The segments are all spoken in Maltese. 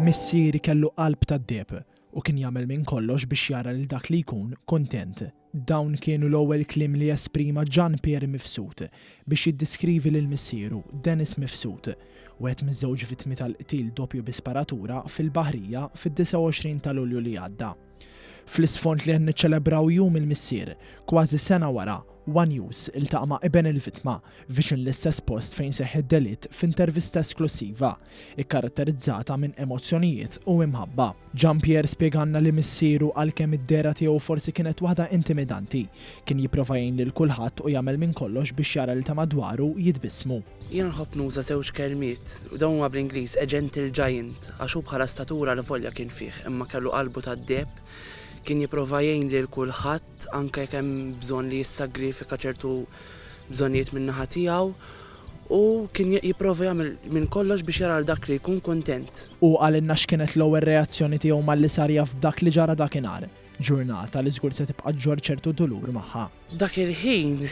Missieri kellu qalb tad-deheb u kien jagħmel minn kollox biex jara lil dak li jkun kuntent. Dawn kienu l-ewwel kliem li esprima Ġan Pier Mifsud biex jiddiskrivi lil missieru, Denis Mifsud, wieħed miż-żewġ vittmi tal-qtil doppju bi sparatura fil-Baħrija fid-29 ta' Lulju li għadda. Fl-isfond li qed niċċelebraw Jum il-Missier, kważi sena wara, one News iltaqa' ma' iben il-vittma, viċin l-istess post fejn seħħ id-delitt f'intervista esklussiva, ikkaratterizzata minn emozzjonijiet u imħabba. Jean-Pierre spjegalna li missieru għalkemm id-dehra tiegħu forsi kienet waħda intimidanti, kien jipprova jgħin lil kulħadd u jagħmel minn kollox biex jara lil ta' madwaru jitbissmu. Jien nħobb nuża żewġ kelmiet, u dawn huma bl-Ingliż, a gentle giant, għax hu bħala statura allavolja kien fih, imma kellu qalbu tad-deheb, kien jipprova jgħin lil kulħadd, anke jekk hemm bżonn li jissagrifika ċertu bżonnijiet min-naħa tiegħu u kien jipprova jagħmel minn kollox biex jara dak li jkun kuntent. Hu qalilna x'kienet l-ewwel reazzjoni tiegħu malli sar jaf b'dak li ġara dakinhar, ġurnata li żgur se tibqa' ġġorr ċertu dulur magħha. Dak il-ħin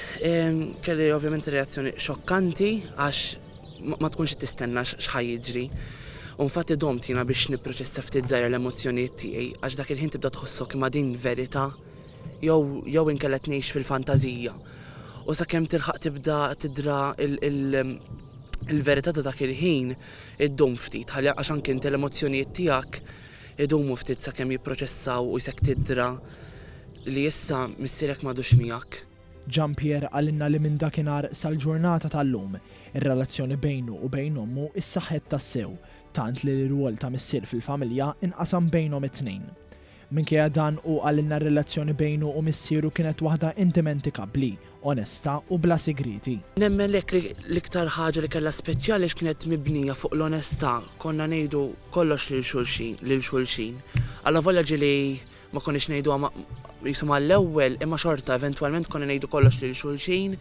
kelli ovvjament reazzjoni xokkanti għax Ma tkunx qed tistenna x'ħa jiġri. U nfatti domt jiena biex nipproċessa ftit żgħira l-emozzjonijiet tiegħi għax dak il-ħin tibda tħossok imma din verità jew jew inkella qed ngħix fil-fantażija. U sakemm tilħaq tibda tidra il-verità ta' dak il-ħin iddum ftit ħalli għax anke inti l-emozzjonijiet tiegħek idumu ftit sakemm jipproċessaw u jsek tidra li issa missierek m'għadux miegħek. Jean Pierre qalilna li minn dakinhar sal-ġurnata tal-lum, ir-relazzjoni bejnu u bejn ommu ssaħħet tassew, tant li l-irwol ta' missier fil-familja nqasam bejnhom it-tnejn. Minkejja dan, hu qalilna r-relazzjoni bejnu u missieru kienet waħda indimentikabbli, onesta u bla sigrieti. Nemmen hekk li l-iktar ħaġa li kellha speċjali għax kienet mibnija fuq l-onesta, konna ngħidu kollox lil xulxin, lil xulxin. Allavolja ġieli Ma konniex ngħiduha ma jisu mal-ewwel imma xorta eventwalment konna ngħidu kollox lil xulxin.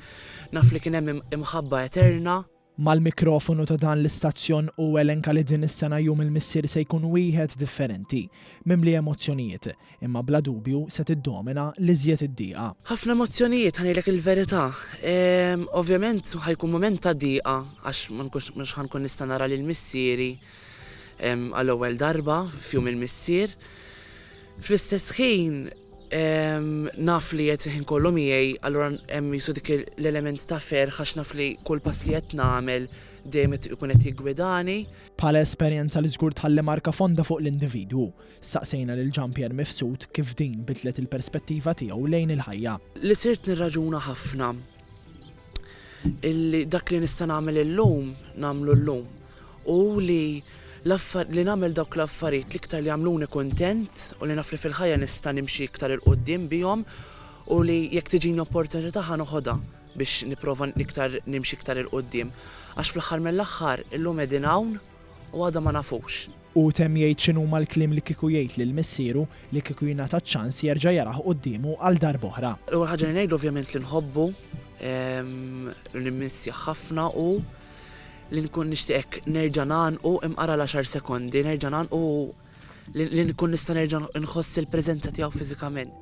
Naf li kien hemm imħabba eterna. Mal-mikrofonu ta' dan l-istazzjon hu elenka li din is-sena Jum il-Missier se jkun wieħed differenti, mimli emozzjonijiet, imma bla dubju se tiddomina l-iżjed id-diqa. Ħafna emozzjonijiet, ħa ngħidlek il-verità. Ovvjament ħa jkun mument ta' diqa għax ma nkunx mhux ħa nkun nista' nara lil missieri. għall-ewwel darba f'jum il-missier. Fl-istess ħin naf li qed il-ħin kollu miegħi, allura hemm qisu dik l-element ta' ferħ għax naf li kull pass li qed nagħmel dejjem qed ikun qed jiggwidani. Bħala esperjenza li żgur tħalli marka fonda fuq l-individwu, staqsejna lil Jean Pierre Mifsud kif din bidlet il-perspettiva tiegħu lejn il-ħajja. Li sirt nirraġuna ħafna illi dak li nista' nagħmel illum nagħmlu llum u li li nagħmel dawk l-affarijiet li iktar li jagħmluni kuntent u li naf li fil-ħajja nista' nimxi iktar il qudiem bihom u li jekk tiġini opportunità ħa noħodha biex nipprova iktar nimxi iktar il qudiem Għax fl-aħħar mill-aħħar illum qegħdin hawn u għada ma nafux. Hu temm jgħid x'inhuma l-kliem li kieku jgħid lil missieru li kieku jingħata ċ-ċans jerġa' jaraħ quddiemu għal darb'oħra. L-ewwel ħaġa li ngħidlu ovvjament li nħobbu, li nimmissjah ħafna u li nkun nixtieq hekk nerġa' ngħanqu imqara l-għaxar sekondi, nerġa' ngħanqu li nkun nista' nerġa' nħoss il-preżenza tiegħu fiżikament.